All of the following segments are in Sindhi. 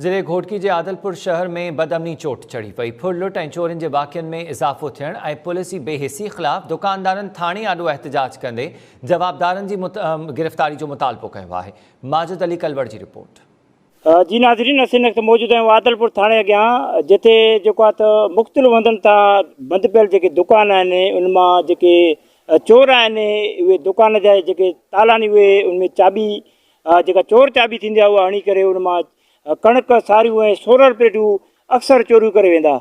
ضلعي گهوٽڪي جي عادلپور شهر ۾ بدامني چوٽ چڙهي پئي، ڦر لٽ ۽ چورين جي واقعن ۾ اضافو ٿيڻ ۽ پوليس جي بي حسي خلاف دڪاندارن ٿاڻي آڏو احتجاج ڪندي جوابدارن جي گرفتاري جو مطالبو ڪيو آهي، ماجد علي ڪلوڙ جي رپورٽ. جي ناظرين اسين وقت موجود آهيون عادلپور ٿاڻي اڳيان جتي جيڪو آهي ته مختلف هنڌن تان بند پيل جيڪي دڪان آهن ان مان جيڪي چور آهن اهي دڪان جا جيڪي تالا آهن اهي ان ۾ چاٻي جيڪا چور چاٻي ٿيندي آهي اها هڻي ڪري ان مان ڪڻڪ، ساريون ۽ سورڙ پليٽون اڪثر چوريون ڪري ويندا.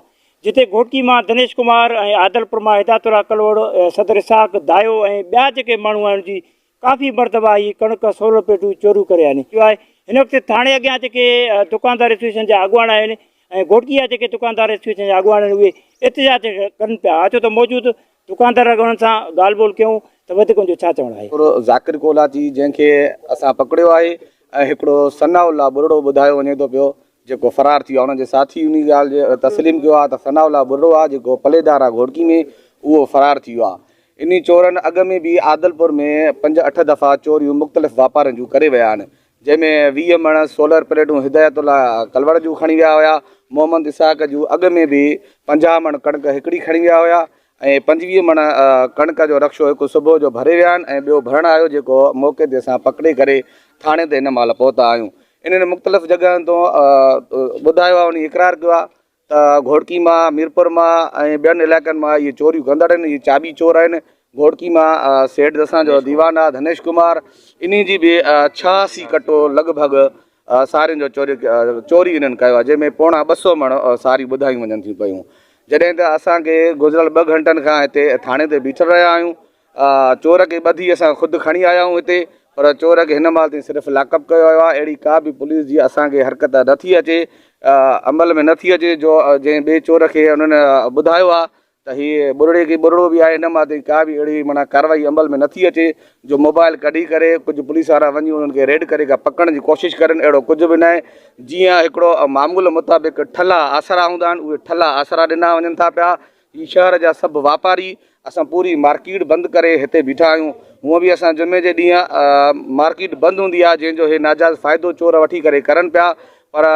جتي گهوٽڪي مان دنيش ڪمار ۽ عادلپور مان هدايت الله ڪلهوڙ، صدر اسحاق، دايو ۽ ٻيا جيڪي ماڻهو آهن جي ڪافي مرتبا هي ڪڻڪ، سورڙ پليٽون چوريون ڪري آهن. هن وقت ٿاڻي اڳيان جيڪي دڪاندار ايسوسيئيشن جا اڳواڻ آهن ۽ گهوٽڪي جا جيڪي دڪاندار ايسوسيئيشن جا اڳواڻ آهن اهي احتجاج ڪن پيا ڇو ته موجود دڪاندار اڳ انهن سان ڳالهه ٻولهه ڪيون ته وڌيڪ ان جو ڇا چوڻ آهي. هڪڙو ذاڪر ڪولاچي جنهن کي اسان پڪڙيو آهي ۽ هڪڙو ثناء الله ٻرڙو ٻڌايو وڃي ٿو پيو جيڪو فرار ٿي ويو آهي انهن جي ساٿي انهي ڳالهه جي تسليم ڪيو آهي ته ثناء الله ٻرڙو آهي جيڪو پليدار آهي گهوڙڪي ۾ اهو فرار ٿي ويو آهي انهي چورن اڳ ۾ به عادلپور ۾ پنج اٺ دفعا چوريون مختلف واپارين جون ڪري ويا آهن جنهن ۾ ويهه مڻ سولر پليٽون هدايت الله ڪلوڙ جون کڻي ويا هيا، محمد اسحاق جون اڳ ۾ به پنجاهه مڻ ڪڻڪ هڪڙي کڻي ويا هيا ۽ پنجويهه مڻ ڪڻڪ جو رڪشو هڪ صبح جو ڀري ويا آهن ۽ ٻيو ڀرڻ آيو جيڪو موقعي تي اسان پڪڙي ڪري ٿاڻي تي هن مهل پهتا آهيون انهن مختلف جڳهن تون ٻڌايو آهي انهي اقرار ڪيو آهي ته گهوڙڪي مان، ميرپور مان ۽ ٻين علائقن مان اهي چوريون ڪندڙ آهن، اهي چاٻي چور آهن، گهوڙڪي مان سيٺ دسان جو ديوان آهي ڌنيش ڪمار، انهي جي به ڇهاسي ڪٽو لڳ ڀڳ سارين جو چوري چوري انهن ڪيو آهي، جنهن ۾ پوڻا ٻه سؤ مڻ ساريون ٻڌايون وڃن ٿيون پيون، جڏهن ته اسان کي گذريل ٻه گهنٽن کان هتي ٿاڻي تي بيٺل رهيا آهيون، چور کي ٻڌي اسان خود کڻي آيا آهيون هتي پر چور کي هن مهل تائين صرف لاڪ اپ ڪيو ويو آهي اهڙي ڪا به پوليس جي اسان کي حرڪت نه ٿي اچي عمل ۾ نه ٿي اچي جو جنهن ٻئي چور کي انهن ٻڌايو آهي ته هي ٻرڙي کي ٻرڙو به آهي هن مهل تائين ڪا به اهڙي معنيٰ ڪارروائي عمل ۾ نه ٿي اچي جو موبائل ڪڍي ڪري ڪجهه پوليس وارا وڃي انهن کي ريڊ ڪري ڪا پڪڙڻ جي ڪوشش ڪرن اهڙو ڪجهه به ناهي جيئن هڪڙو معمول مطابق ٺلها آسرا هوندا آهن اهي ٺلها آسرا ڏنا وڃن ٿا پيا هي شهر جا سڀ واپاري اسان پوري مارڪيٽ بند ڪري هتي بيٺا آهيون هونء به اسان جمعي جي ڏينهن مارڪيٽ بند هوندي آهي جنهن جو هي ناجائز فائدو چور وٺي ڪري ڪرن پيا پر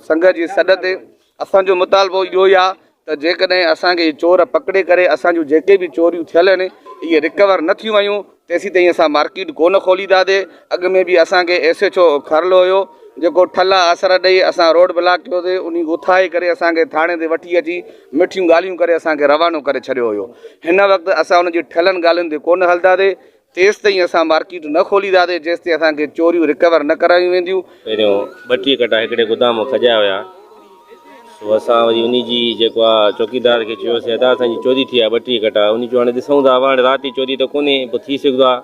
سنگهه جي سڏ تي اسان جو مطالبو اهو ئي آهي ته جيڪڏهن اسان کي چور پڪڙي ڪري اسان جون جيڪي به چوريون ٿيل آهن اهي رڪور نه ٿيون ويون تيسيتائين اسان مارڪيٽ ڪو نه کولينداسي، اڳ ۾ به اسان کي ايس ايڇ او کارلو هيو جيڪو ٺلا آسرا ڏئي اسان روڊ بلاڪ ڪيو سي انهي اٿائي ڪري اسان کي ٿاڻي تي وٺي اچي مٺيون ڳالهيون ڪري اسان کي روانو ڪري ڇڏيو هيو هن وقت اسان ان جي ٺهيلن ڳالهين تي ڪو نه هلنداسي تيستائين اسان مارڪيٽ نه کولينداسي جيستائين اسان کي چوريون رڪور نه ڪرايون وينديون. پهريون ٻٽيهه ڪٽا هڪڙي گدام ۾ کڄايا هيا. سو اسان وري انهي جي جيڪو آ چوڪيدار کي چيو سي ادا اسان جي چوري ٿي آ ٻٽي ڪٽا انهي چيو هاڻي ڏسون ٿا هاڻي رات جي چوري ته ڪونهي پوء ٿي سگهدو آ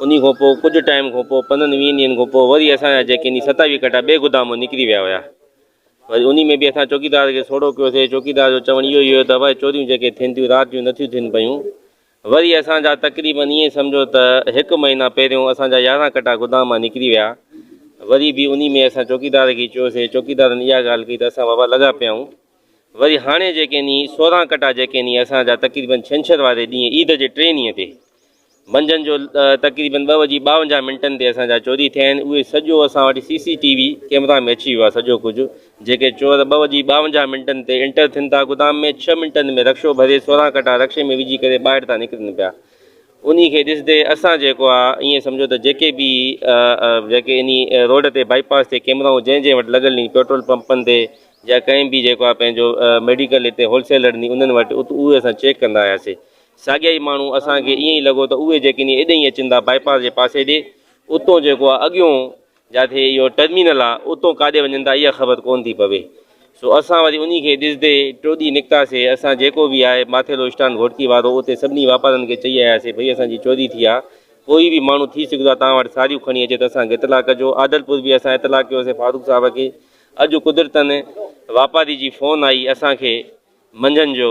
انهي کان پوء ڪجهه ٽائيم کان پوء پندرهن ويهن ڏينهن کان پوء وري اسان جا جيڪي انهي ستاويهه ڪٽا ٻي گدام مان نڪري ويا هيا وري انهي ۾ به اسان چوڪيدار کي سوڙهو ڪيو سي چوڪيدار جو چوڻ اهو ئي هيو ته ڀائي چوريون جيڪي ٿين ٿيون رات جون نٿيون ٿين پيون وري اسان جا تقريبن ائين سمجهو ته هڪ مهينا پهريون اسان جا يارهن ڪٽا گدام مان نڪري ويا. وري به انهي ۾ اسان چوڪيدار کي چيوسين، چوڪيدارن اها ڳالهه ڪئي ته اسان بابا لڳا پيا آهيون. وري هاڻي جيڪي ني سورهن ڪٽا جيڪي ني اسان جا تقريبن ڇنڇر واري ڏينهن عيد جي ٽئين ڏينهن تي منجهند جو تقريبن ٻه وڄي ٻاونجاهه منٽن تي اسان جا چوري ٿيا آهن اهي سڄو اسان وٽ C C T V camera ۾ اچي ويو آهي سڄو ڪجهه جيڪي چور ٻه وڄي ٻاونجاهه منٽن تي انٽر ٿين ٿا گدام ۾ ڇهه منٽن ۾ رڪشو ڀري سورهن ڪٽا رڪشي ۾ وجهي ڪري ٻاهر ٿا نڪرن پيا انهي کي ڏسندي اسان جيڪو آ ائين سمجهو ته جيڪي به جيڪي انهي روڊ تي بائي پاس تي ڪيمرائون جنهن جنهن وٽ لڳل ني پيٽرول پمپن تي يا ڪنهن به جيڪو آ پنهنجو ميڊيڪل هتي هول سيلر ني انهن وٽ ات اهي اسان چيڪ ڪندا آياسي ساڳيا ئي ماڻهو اسان کي ائين ئي لڳو ته اهي جيڪي ني ايڏئين اچن ٿا بائي پاس جي پاسي ڏي اتون جيڪو آ اڳيون جاتي اهو ٽرمينل آ، اتون ڪاڏي وڃن ٿا اها خبر ڪونه ٿي پوي. سو اسان وري انهي کي ڏسدي ٽوڏي نڪتاسي. اسان جيڪو به آهي ماٿيلو اسٽان گهوٽڪي وارو اتي سڀني واپارن کي چئي آياسي ڀئي اسان جي چوري ٿي آ، ڪوئي به ماڻهو ٿي سگهدو آ توهان وٽ ساريون کڻي اچي ته اسان کي اطلاع ڪجو. عادلپور به اسان اطلاع ڪيوسي فاروق صاحب کي. اڄ قدرتن واپاري جي فون آئي اسان کي منجهند جو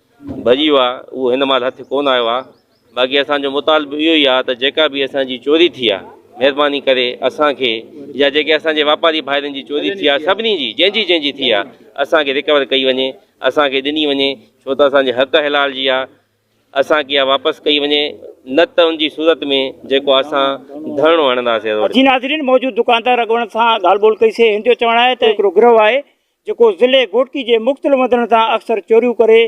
ڀڄي ويو آهي اهو هن مهل هٿ ڪونه آيو آهي باقي اسان جو مطالبو اهو ئي آهي ته جيڪا به اسان جي چوري ٿي آهي مهرباني ڪري اسان کي يا جيڪي اسان جي واپاري ڀائرن جي چوري ٿي آهي سڀني جي جنهن جي جنهن جي ٿي آهي اسان کي رڪور ڪئي وڃي اسان کي ڏني وڃي ڇو ته اسان جي حق حلال جي آهي اسان کي اها واپس ڪئي وڃي نه ته ان جي صورت ۾ جيڪو اسان ڌرڻو هڻنداسين. جي ناظرين موجود دڪاندار اڳواڻن سان ڳالهه ٻولهه ڪئي سي هن جو چوڻ آهي ته هڪڙو گروهه آهي جيڪو ضلعي گهوٽڪي جي مختلف هنڌن تان اڪثر چوريون ڪري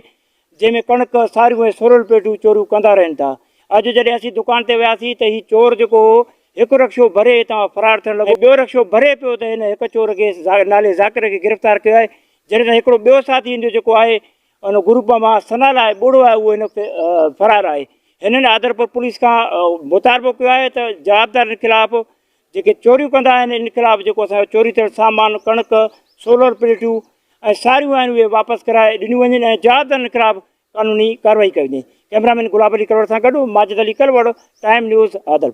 جنهن ۾ ڪڻڪ، ساريون ۽ سورل پيڊون چوريون ڪندا رهن ٿا. اڄ جڏهن اسين دڪان تي وياسين ته هي چور جيڪو هو هڪ رڪشو ڀري هتان فرار ٿيڻ لڳو ۽ ٻيو رڪشو ڀري پيو ته هن هڪ چور کي نالي ذاڪر کي گرفتار ڪيو آهي جڏهن ته هڪڙو ٻيو ساٿي هن جو جيڪو آهي ان گروپ مان ثنا لاء ٻوڙو آهي اهو هن وقت فرار آهي. هنن آدرپور پوليس کان مطالبو ڪيو آهي ته جوابدارن خلاف جيڪي چوريون ڪندا آهن ان خلاف جيڪو اسان جو چوري ٿيل سامان ڪڻڪ سولر پليٽون ۽ ساريون آهن اهي واپس ڪرائي ڏنيون وڃن ۽ جوابدارن خلاف قانوني ڪارروائي ڪئي وڃي ڪئميرا مين گلاب علي ڪلوڙ سان گڏ ماجد علي ڪلوڙ ٽائيم نيوز عادلپور